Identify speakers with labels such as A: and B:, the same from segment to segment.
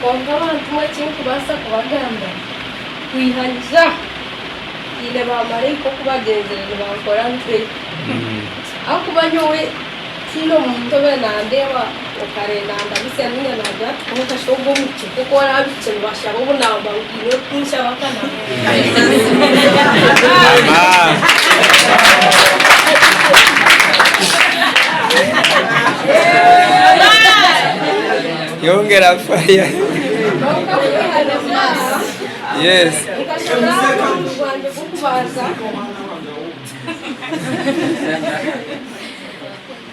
A: Kwonka abantu eki nkubaasa kubagamba, kwiha ngira, haine baamaraika oku bagyenzire nibankora ntwe. Ahakuba nyowe tihaine omuntu obaire naandeeba okare naandabisa nainga naagira ati, kwonka shi ogwo omukye? Nk'oku oraabe bikye nibashaba obu naaba oine orikunshaba akanaakuha. Yongera fire yes.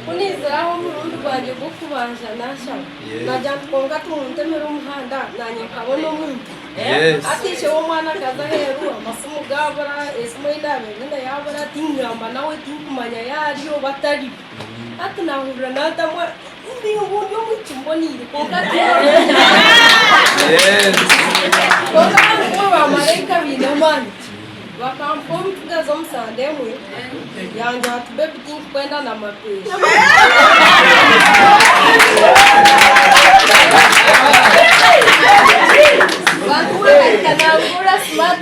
A: Kuniziraho omurundi gwangye gw'okubanza nashaba nagira nti kwonka timuntemire omuhanda nanye nkabona omuntu ateisheho omwana akaza aheeru amasimu gabura esimu eyi nabaire nyine yabura tingamba nawe tinkumanya yaari oba tariyo. Hati naahurira naatamu embi ngu ndi omwishiki mboneire. Kwonka ahakuba baamaraika baine amaani, bakampa omutsigazi omu sande emwe, yangira ati, Bebi, tindikwenda na mapeesa. Bantu ba Amerika, naabahuurira smart.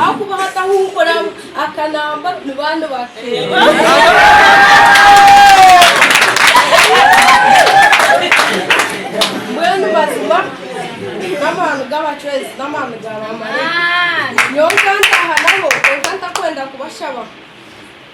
A: Ahakuba hataho ou oraamuha akanamba, ni baanu Mbwenu mazima n'amaani g'abacwezi n'amaani ga baamalaika. Nyowe nkantaaha nabo, kwonka ntakwenda kubashaba.